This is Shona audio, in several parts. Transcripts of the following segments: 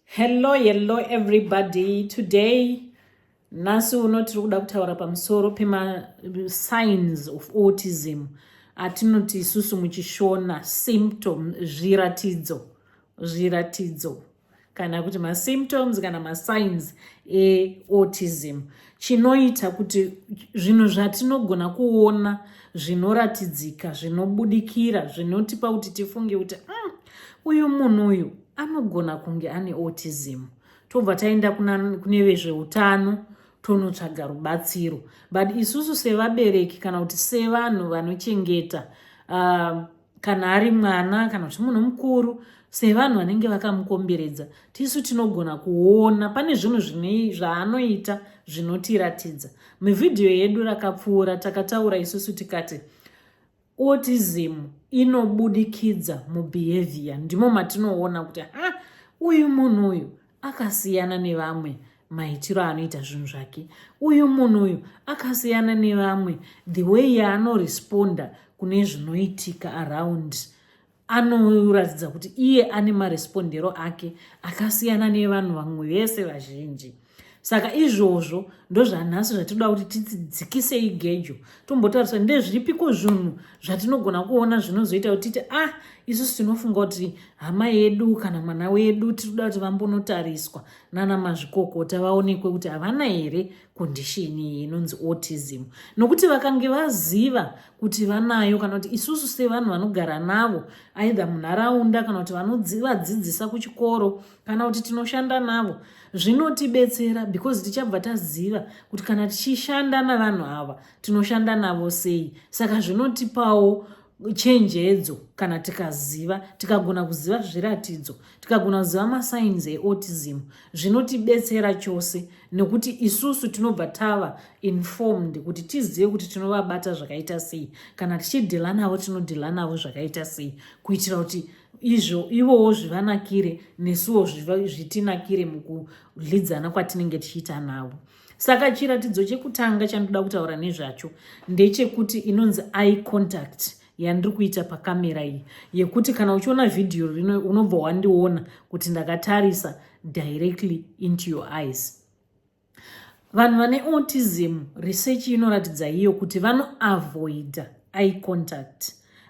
Hello, hello everybody. Today, nhasi uno tiri kuda kutaura pamusoro pemasigns of autism atinoti isusu muchishona symptom zviratidzo zviratidzo kana kuti masymptoms kana masigns eautism chinoita kuti zvinhu zvatinogona kuona zvinoratidzika zvinobudikira zvinotipa kuti tifunge kuti mm, uyu munhu uyu anogona kunge ane autism tobva taenda kune vezveutano tonotsvaga rubatsiro but isusu sevabereki kana kuti sevanhu vanochengeta uh, kana ari mwana kana kuti munhu mukuru sevanhu vanenge vakamukomberedza tisu tinogona kuona pane zvinhu zvinei zvaanoita zvinotiratidza mivhidhiyo yedu rakapfuura takataura isusu tikati autism inobudikidza mubehavior ndimo matinoona kuti ha uyu munhu uyu akasiyana nevamwe maitiro aanoita zvinhu zvake uyu munhu uyu akasiyana nevamwe the way yaanoresponda kune zvinoitika around anoratidza kuti iye ane marespondero ake akasiyana nevanhu vamwe vese vazhinji saka izvozvo ndozvanhasi zvatinoda kuti tidzikise igejo tombotarisa ndezviripiko zvinhu zvatinogona kuona zvinozoita kuti titi ah isusu tinofunga kuti hama yedu kana mwana wedu tinoda kuti vambonotariswa nana mazvikokota vaonekwe kuti havana here kondishini iyi inonzi autism nokuti vakange vaziva kuti vanayo kana kuti isusu sevanhu vanogara navo aidha munharaunda kana kuti vanovadzidzisa kuchikoro kana kuti tinoshanda navo zvinotibetsera because tichabva taziva kuti kana tichishanda navanhu ava tinoshanda navo sei saka zvinotipawo chenjedzo kana tikaziva tikagona kuziva zviratidzo tikagona kuziva masainzi eautism zvinotibetsera chose nekuti isusu tinobva tava informed kuti tizive kuti tinovabata zvakaita sei kana tichidhila navo tinodhila navo zvakaita sei kuitira kuti izvo ivowo zvivanakire nesuwo zvitinakire mukudlidzana kwatinenge tichiita navo saka chiratidzo chekutanga chandoda kutaura nezvacho ndechekuti inonzi eye contact yandiri kuita pakamera iyi yekuti kana uchiona vhidhiyo rino unobva wandiona kuti ndakatarisa directly into your eyes Vanhu vane autism research inoratidza iyo kuti vanoavoida eye contact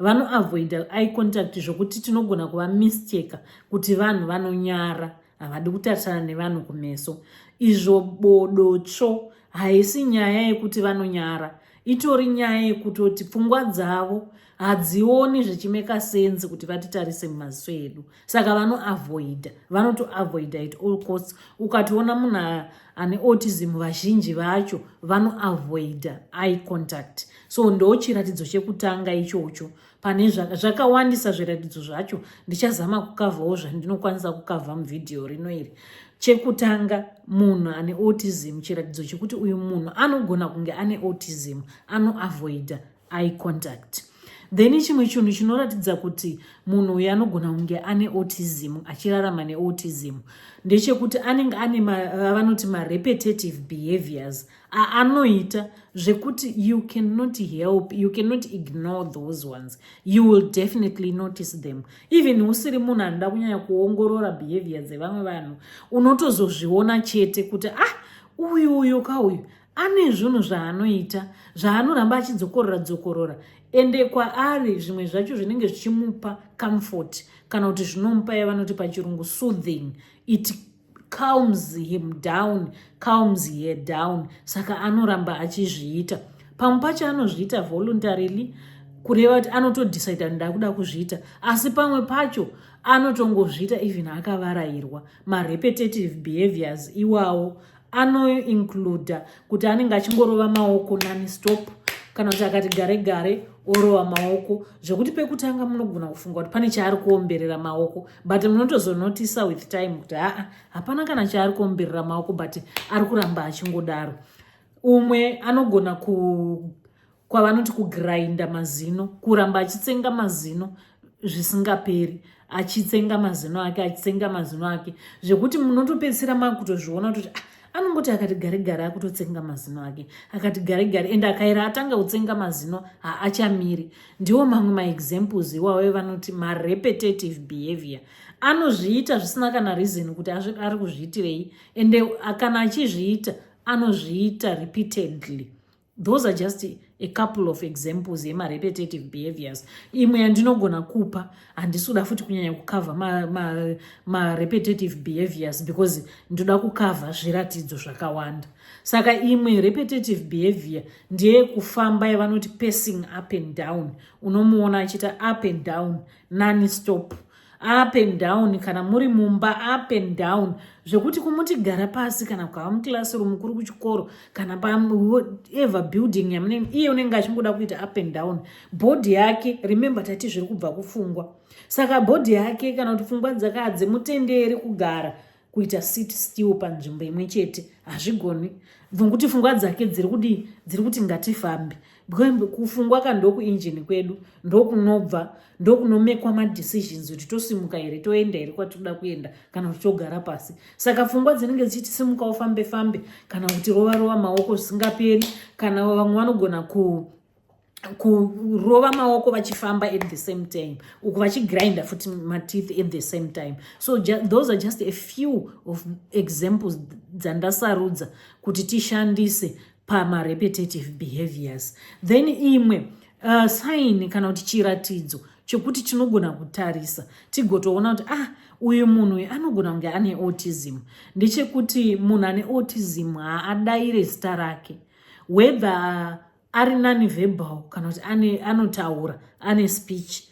vanoavoida eye contact zvokuti tinogona kuva mistake kuti vanhu vanonyara havadi kutarisana nevanhu kumeso izvo bodo tsvo haisi nyaya yekuti vanonyara itori nyaya yekutoti pfungwa dzavo hadzioni zvichimeka sense kuti vatitarise mumaziso edu saka vanoavoida vanotoavoida it all costs ukationa munhu ane autism vazhinji vacho vanoavoida eye contact so ndo chiratidzo chekutanga ichocho pane zvakawandisa zviratidzo zvacho ndichazama kukavhawo zvandinokwanisa kukavha muvhidhiyo rino iri chekutanga munhu ane autism chiratidzo chekuti uyu munhu anogona kunge ane autism anoavoida eye contact then chimwe chinhu chinoratidza kuti munhu uyu anogona kunge ane autism achirarama neautism ndechekuti anenge ane vanoti marepetitive behaviors aanoita zvekuti you cannot help you cannot ignore those ones you will definitely notice them even usiri munhu anoda kunyanya kuongorora behavior dzevamwe vanhu unotozozviona chete kuti ah uyu uyu ka uyu ane zvunhu zvaanoita zvaanoramba achidzokorora dzokorora ende kwaari zvimwe zvacho zvinenge zvichimupa comfort kana kuti zvinomupa yavanoti pachirungu soothing it calms him down calms her down saka anoramba achizviita pamwe pacho anozviita voluntarily kureva kuti anotodecida ndakuda kuzviita asi pamwe pacho anotongozviita even akavarayirwa marepetitive behaviors iwawo anoincluda kuti anenge achingorova maoko nani stop kana kuti akati gare gare orova maoko zvekuti pekutanga munogona kufunga kuti pane chaari kuomberera maoko but munotozonotisa with time kuti aa hapana kana chaari kuomberera maoko but ari kuramba achingodaro umwe anogona ku kwavanoti kugrinda mazino kuramba achitsenga mazino zvisingaperi achitsenga mazino ake achitsenga mazino ake zvekuti munotopedzisira makutozviona kuti ah, anongoti akati gare gare akutotsenga mazino ake akati gare gare ende akaira atanga kutsenga mazino haachamiri ndiwo mamwe maexamples iwawo evanoti marepetitive behavior anozviita zvisina kana reason kuti ari kuzviitirei ende kana achizviita anozviita repeatedly those are just a couple of examples yemarepetitive behaviors imwe yandinogona kupa handisi kuda futi kunyanya kukavha marepetitive ma, ma behaviors because ndoda kukavha zviratidzo zvakawanda saka imwe repetitive behavior ndeye kufamba yavanoti passing up and down unomuona achiita up and down nani stop up and down kana muri mumba up and down zvekuti kumuti gara pasi kana kukava muclassroom kuri kuchikoro kana paever building yamunenge iye unenge achingoda kuita up and down bhodhi yake remembe tati zviri kubva kufungwa saka bhodhi yake kana kuti pfungwa dzakaa dzemutenderi kugara kuita sit still panzvimbo imwe chete hazvigoni bvunguti fungwa dzake dziri kudii dziri kuti ngatifambe kufungwa ka ndokuinjini kwedu ndokunobva ndokunomekwa madecisions kuti tosimuka here toenda here kwatinoda kuenda kana kuti togara pasi saka fungwa dzinenge dzichiti simuka ufambe fambe kana kuti rova rova maoko zvisingaperi kana vamwe vanogona ku kurova maoko vachifamba at the same time uku vachigrinda futi mateeth at the same time so ju those are just a few of examples dzandasarudza kuti tishandise pamarepetitive behaviors then imwe uh, sign kana kuti chiratidzo chekuti tinogona kutarisa tigotoona kuti ah uyu munhu uyu anogona kunge ane autism ndechekuti munhu ane autism haadaire zita rake whether ari nani verbal kana kuti ane anotaura ane speech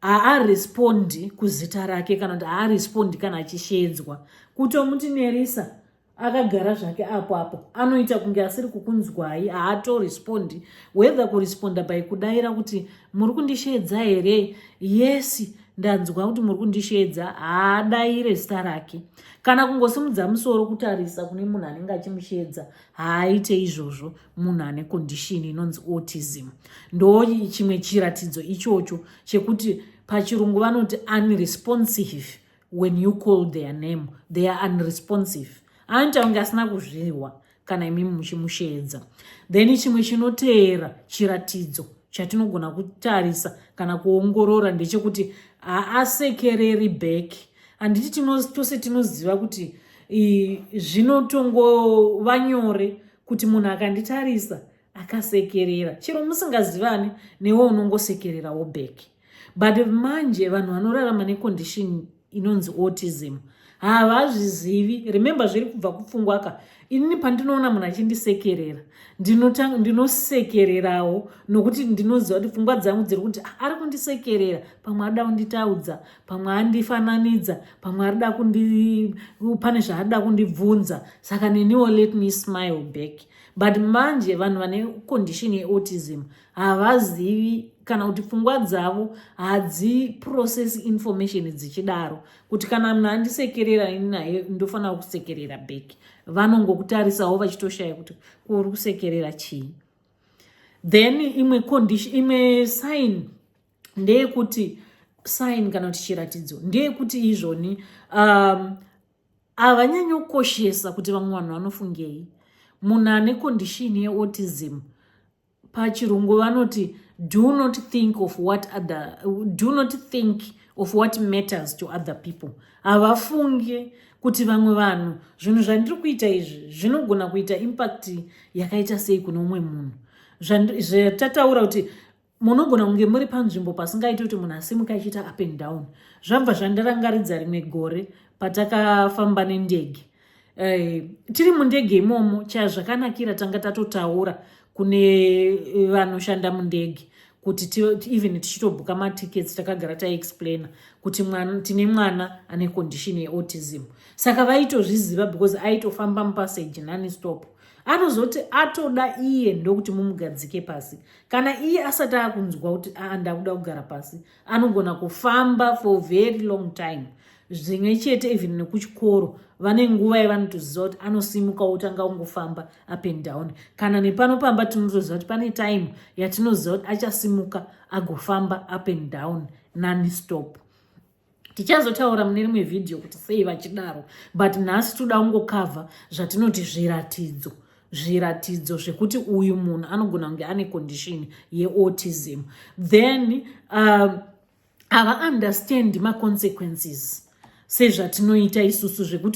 haarespondi kuzita rake kana kuti haarespondi kana achisheedzwa kutomuti nerisa akagara zvake apo apo anoita kunge asiri kukunzwai haatorespondi whether kuresponda by kudaira kuti muri kundisheedza here yesi ndanzwa kuti muri kundisheedza haadaire zita rake kana kungosimudza musoro kutarisa kune munhu anenge achimusheedza haaite izvozvo munhu ane kondishini inonzi autism ndo chimwe chiratidzo ichocho chekuti pachirungu vanoti unresponsive when you call their name they are unresponsive anoita kunge asina kuzvihwa kana imimi muchimusheedza then chimwe chinoteera chiratidzo chatinogona kutarisa kana kuongorora ndechekuti haasekereri bheki handiti tose tinoziva kuti zvinotongova nyore kuti munhu akanditarisa akasekerera chero musingazivani newe unongosekererawo back but manje vanhu vanorarama necondition inonzi autism havazvizivi remember zviri kubva kupfungwaka inini pandinoona munhu achindisekerera ndinosekererawo nokuti ndinoziva kuti pfungwa dzangu dziri kuti ah, ari kundisekerera pamwe arida kunditaudza pamwe andifananidza pamwe arida kundi pane zvaarida kundibvunza saka neniwo let me smile back but manje vanhu vane condition yeautism havazivi kana kuti pfungwa dzavo hadziprocess information dzichidaro kuti kana munhu andisekerera ini naye ndofanira kusekerera back vanongokutarisawo vachitoshaya kuti kuuri kusekerera chii then imwe condition imwe sign ndeyekuti sign kana kuti chiratidzo ndeyekuti izvoni um, havanyanyokoshesa kuti vamwe vanhu vanofungei munhu ane kondishini yeautism pachirungu vanoti do not think of what other do not think of what matters to other people havafunge kuti vamwe vanhu zvinhu zvandiri kuita izvi zvinogona kuita impact yakaita sei kune umwe munhu zvatataura kuti munogona kunge muri panzvimbo pasingaiti kuti munhu asimuka achiita up and down zvabva zvandirangaridza rimwe gore patakafamba nendege Eh, tiri mundege imomo chazvakanakira tanga tatotaura kune eh, vanoshanda mundege kuti even tichitobhuka matickets takagara taexplaina kuti mwana tine mwana ane condition yeautism saka vaitozviziva because aitofamba mupassage nani stop anozoti atoda iye ndokuti mumugadzike pasi kana iye asati akunzwa kuti aa ah, ndakuda kugara pasi anogona kufamba for very long time zvimwe chete even nekuchikoro vane nguva yevanotoziva kuti anosimuka otanga ungofamba up and down kana nepano pamba tinotoziva kuti pane time yatinoziva kuti achasimuka agofamba up and down nani stop tichazotaura mune rimwe vhidhiyo kuti sei vachidaro but nhasi toda kungokavha zvatinoti zviratidzo zviratidzo zvekuti uyu munhu anogona kunge ane condition yeautism then uh, hava understand maconsequences sezvatinoita isusu zvekuti